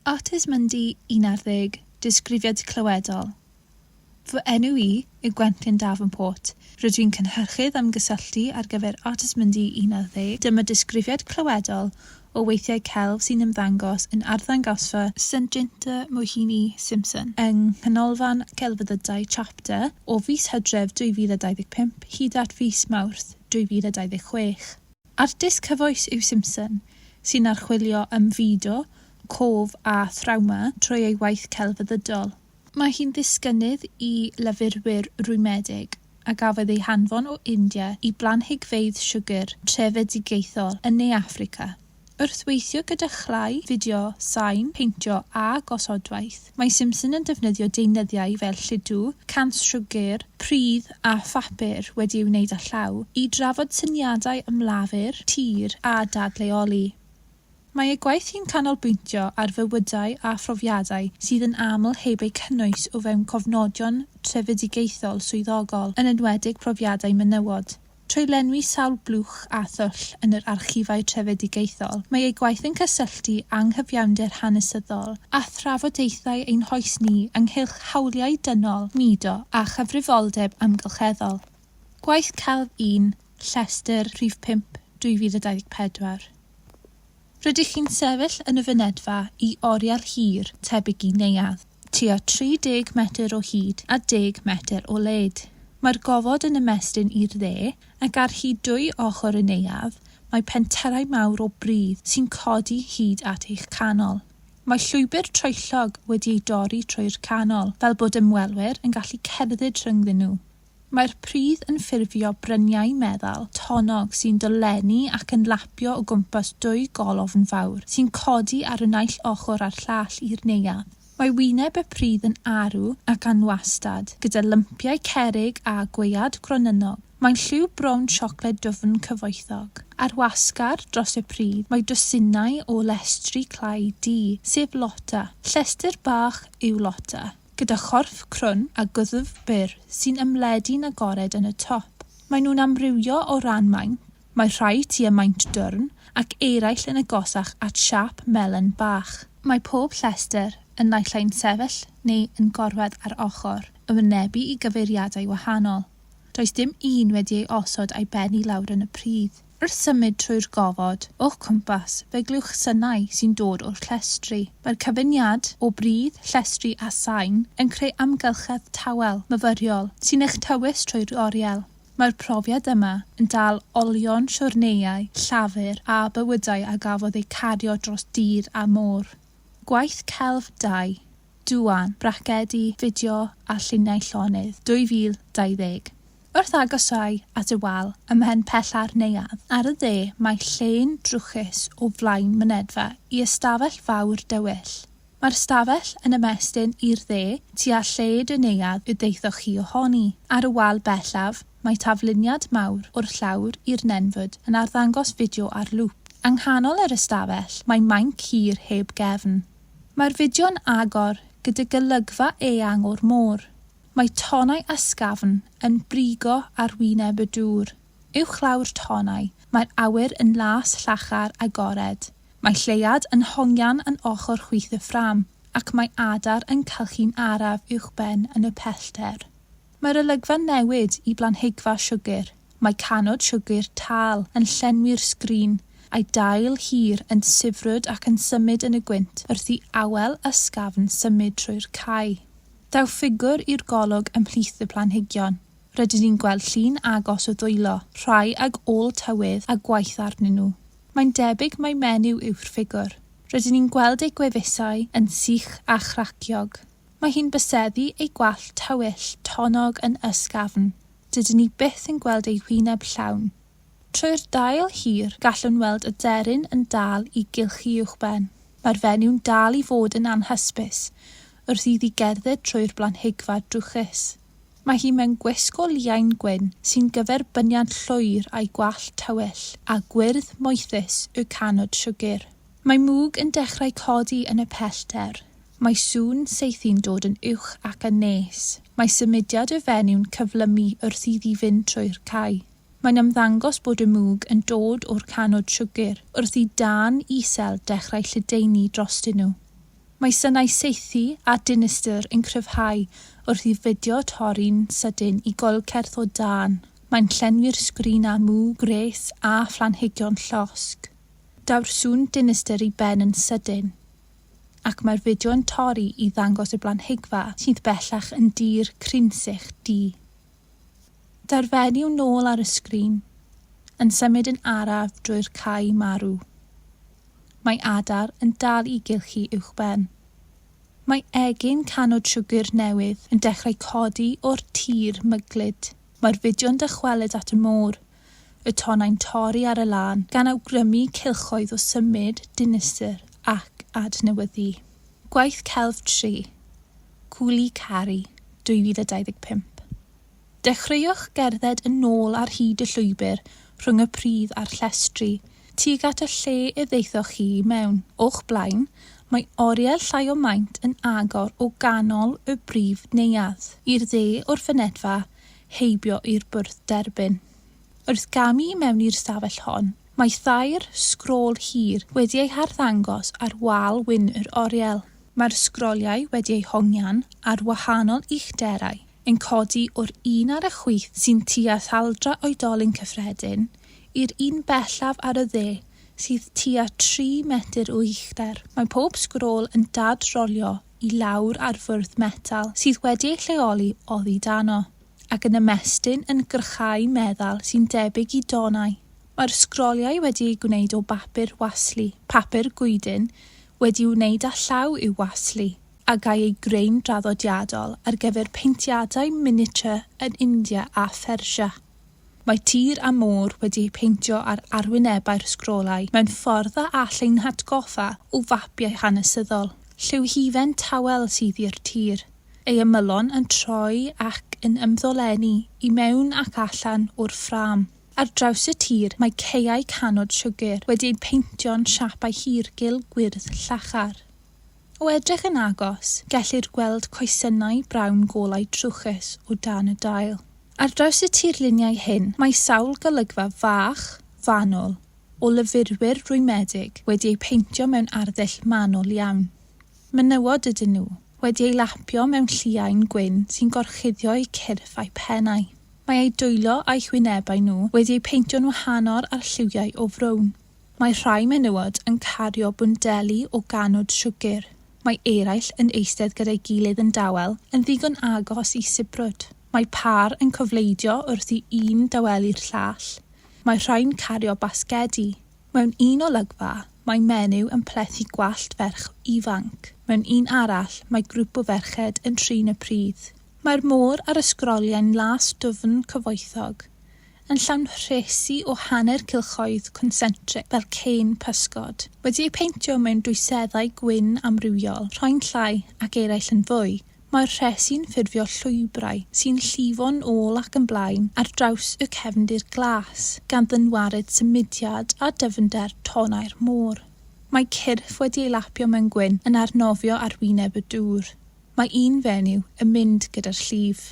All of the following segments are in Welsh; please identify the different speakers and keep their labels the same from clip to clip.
Speaker 1: Artis Mundi, un ar ddeg, Disgrifiad clywedol Fy enw i yw Gwenllian Davenport. Rydw i'n cynhyrchydd ymgysylltu ar gyfer Artis Mundi, un ar ddeg. Dyma disgrifiad clywedol o weithiau celf sy'n ymddangos yn Arddangosfa St Jinta Mohini Simpson yng Nghanolfan Celfyddydau Chapter o fis Hydref 2025 hyd at fis Mawrth 2026. Artist cyfoes yw Simpson, sy'n archwilio ymfudo, cof a thrawma trwy ei waith celfyddydol. Mae hi'n ddisgynnydd i lyfrwyr rwymedig, a gafodd ei hanfon o India i blanhigfeydd siwgr trefedigaethol yn Ne Affrica, wrth weithio gyda chlai, fideo, sain, peintio a gosodwaith. Mae Simpson yn defnyddio deunyddiau fel lludw, cant siwgr, pridd a phapur wedi'i wneud â llaw i drafod syniadau am lafur, tir a dadleoli. Mae ei gwaith hi'n canolbwyntio ar fywydau a phrofiadau sydd yn aml heb eu cynnwys o fewn cofnodion trefedigaethol swyddogol, yn enwedig profiadau menywod. Trwy lenwi sawl blwch a thwll yn yr archifau trefedigaethol, mae ei gwaith yn cysylltu anghyfiawnder hanesyddol â thrafodaethau ein hoes ni ynghylch hawliau dynol, mudo a chyfrifoldeb amgylcheddol. Gwaith celf un, Llestr, rhif 5, 2024. Rydych chi'n sefyll yn y fynedfa i oriel hir, tebyg i neuadd. tua 30 metr o hyd a deg metr o led. Mae'r gofod yn ymestyn i'r dde, ac ar hyd dwy ochr y neuadd mae penterau mawr o bridd sy'n codi hyd at eich canol. Mae llwybr troellog wedi ei dorri trwy'r canol fel bod ymwelwyr yn gallu cerdded rhyngddyn nhw. Mae'r pridd yn ffurfio bryniau meddal tonnog sy'n dolennu ac yn lapio o gwmpas dwy golofn fawr sy'n codi ar y naill ochr a'r llall i'r neuadd. Mae wyneb y pridd yn arw ac anwastad, gyda lympiau cerrig a gwead gronynog. Mae'n lliw brown siocled dwfn cyfoethog. Ar wasgar dros y pridd mae dwsinau o lestri clai du, sef Lotta. Llestr bach yw Lotta. Gyda chorff crwn a gwddf byr sy'n ymledu'n agored yn y top. Maen nhw'n amrywio o ran maint, mae rhai tua maint dwrn ac eraill yn agosach at siâp melyn bach. Mae pob llestr yn naill ai'n sefyll neu yn gorwedd ar ochr, yn wynebu i gyfeiriadau wahanol. Does dim un wedi ei osod a'i ben i lawr yn y pridd. Wrth symud trwy'r gofod o'ch cwmpas, fe glywch synau sy'n dod o'r llestri. Mae'r cyfuniad o bridd, llestri a sain yn creu amgylchedd tawel, myfyriol, sy'n eich tywys trwy'r oriel. Mae'r profiad yma yn dal olion siwrneiau Llafur a bywydau a gafodd eu cario dros dir a môr. Gwaith Celf Dai, Duan, Bracedi, Fideo a Lluniau Llonydd, 2020. Wrth agosáu at y wal ym mhen pella'r neuadd, ar y dde, mae llên drwchus o flaen mynedfa i ystafell fawr dywyll. Mae'r ystafell yn ymestyn i'r dde, tua lled y neuadd y daethoch chi ohoni. Ar y wal bellaf, mae tafluniad mawr o'r llawr i'r nenfwd yn arddangos fideo ar lŵp. Yng nghanol yr ystafell, mae mainc hir heb gefn. Mae'r fideo'n agor, gyda golygfa eang o'r môr. Mae tonnau ysgafn yn brigo ar wyneb y dŵr. Uwchlaw'r tonnau, mae'r awyr yn las llachar agored. Mae lleuad yn hongian yn ochr chwith y ffrâm, ac mae adar yn cylchu'n araf uwchben yn y pellter. Mae'r olygfa'n newid i blanhigfa siwgr. Mae canod siwgr tal yn llenwi'r sgrin, a'i dail hir yn sibrwd ac yn symud yn y gwynt wrth i awel ysgafn symud trwy'r cae. Daw ffigwr i'r golwg ymhlith y planhigion. Rydyn ni'n gweld llun agos o ddwylo, rhai ag ôl tywydd a gwaith arnyn nhw. Mae'n debyg mai menyw yw'r ffigwr. Rydyn ni'n gweld ei gwefusau yn sych a chraciog. Mae hi'n byseddu ei gwallt tywyll tonnog yn ysgafn. Dydyn ni byth yn gweld ei hwyneb llawn. Trwy'r dail hir, gallwn weld aderyn yn dal i gylch ei uwchben. Mae'r fenyw yn dal i fod yn anhysbys. wrth iddi gerdded trwy'r blanhigfa drwchus. Mae hi mewn gwisg o liain gwyn sy'n gyferbyniad llwyr â'i gwallt tywyll a gwyrdd moethus y canŵd siwgr. Mae mwg yn dechrau codi yn y pellter. Mae sŵn saethu'n dod yn uwch ac yn nes. Mae symudiad y fenyw-n cyflymu wrth iddi fynd trwy'r cae. Mae'n ymddangos bod y mwg yn dod o'r canŵd siwgr wrth i dân isel dechrau lledaenu drostyn nhw. Mae synau saethu a dinistr yn cryfhau wrth i fideo torri'n sydyn i goelcerth o dân. Mae'n llenwi'r sgrin â mw, gwres a phlanhigion llosg. Daw'r sŵn dinistr i ben yn sydyn, ac mae'r fideo'n torri i ddangos y blanhigfa sydd bellach yn dir crynsych du. Daw'r fenyw nôl ar y sgrin, yn symud yn araf drwy'r cae marw. Mae adar yn dal i gylchu uwchben. Mae egin canod siwgr newydd yn dechrau codi o'r tir myglyd. Mae'r fideo'n dychwelyd at y môr y tonnau'n torri ar y lân, gan awgrymu cylchoedd o symud, dinistr ac adnewyddu. Gwaith celf tri, Cwli Caru, 2025. Dechreuwch gerdded yn ôl ar hyd y llwybr rhwng y pridd a'r llestri, tuag at y lle y ddaethoch chi i mewn. O'ch blaen, mae oriel llai o maint yn agor o ganol y brif neuadd. I'r dde o'r fynedfa, heibio i'r bwrdd derbyn. Wrth gamu i mewn i'r stafell hon, mae thair sgrôl hir wedi eu harddangos ar wal wyn yr oriel. Mae'r sgroliau wedi eu hongian ar wahanol uchderau, yn codi o'r un ar y chwith sy'n tua thaldra oedolyn cyffredin i'r un bellaf ar y dde sydd tua tri metr o uchder. Mae pob sgrôl yn dad-rolio i lawr ar fwrdd metal sydd wedi ei lleoli oddi dano, ac yn ymestyn yn grychau meddal sy'n debyg i donau. Mae'r sgroliau wedi eu gwneud o bapur waslu, papur goeden wedi'i wneud â llaw i'w waslu, a gâi ei greu'n draddodiadol ar gyfer peintiadau miniature yn India a Phersia. Mae tir a môr wedi eu peintio ar arwynebau'r sgrolau mewn ffordd a all ein hatgoffa o fapiau hanesyddol. Lliw hufen tawel sydd i'r tir, ei ymylon yn troi ac yn ymddolennu i mewn ac allan o'r ffrâm. Ar draws y tir mae caeau canod siwgr wedi eu peintio'n siapau hir gul gwyrdd llachar. O edrych yn agos, gellir gweld coesynnau brown golau trwchus o dan y dail. Ar draws y tirluniau hyn, mae sawl golygfa fach, fanwl, o lyfrwyr rwymedig wedi eu peintio mewn arddull manwl iawn. Menywod ydyn nhw, wedi eu lapio mewn lliain gwyn sy'n gorchuddio eu cyrff a'u pennau. Mae eu dwylo a'u hwynebau nhw wedi eu peintio'n wahanol â'r lliwiau o frown. Mae rhai menywod yn cario bwndeli o ganwd siwgr. Mae eraill yn eistedd gyda'i gilydd yn dawel, yn ddigon agos i sibrwd. Mae pâr yn cofleidio wrth i un dawelu'r llall. Mae rhai'n cario basgedi. Mewn un olygfa, mae menyw yn plethu gwallt ferch ifanc. Mewn un arall, mae grŵp o ferched yn trin y pridd. Mae'r môr ar y sgroliau'n las dwfn cyfoethog. yn llawn rhesi o hanner cylchoedd consentric fel cein pysgod, wedi eu peintio mewn dwyseddau gwyn amrywiol, rhoi'n llai ac eraill yn fwy, mae'r rhesi'n ffurfio llwybrau sy'n llifo'n ôl ac yn blaen ar draws y cefndir glas, gan ddynwared symudiad a dyfnder tonnau'r môr. Mae cyrff wedi ei lapio mewn gwyn yn arnofio ar wyneb y dŵr. Mae un fenyw yn mynd gyda'r llif.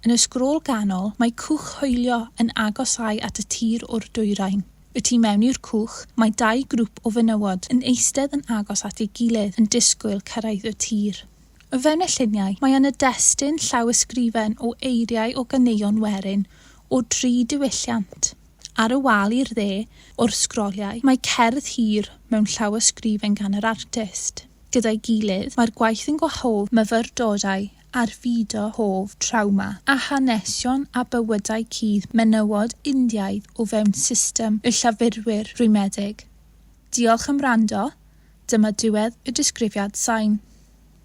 Speaker 1: Yn y sgrôl ganol, mae cwch hoelio yn agosáu at y tir o'r dwyrain. Y tu mewn i'r cwch, mae dau grwp o fenywod yn eistedd yn agos at ei gilydd yn disgwyl cyrraedd y tir. O fewn y lluniau, mae yna destun llawysgrifen o eiriau o ganeuon werin o dri diwylliant. Ar y wal i'r dde o'r sgroliau, mae cerdd hir mewn llawysgrifen gan yr artist. Gyda'i gilydd, mae'r gwaith yn gwahodd myfyrdodau ar fyd o hoff trawma a hanesion a bywydau cudd menywod Indiaidd o fewn system y llafurwyr rwymedig. Diolch am wrando, dyma diwedd y disgrifiad sain.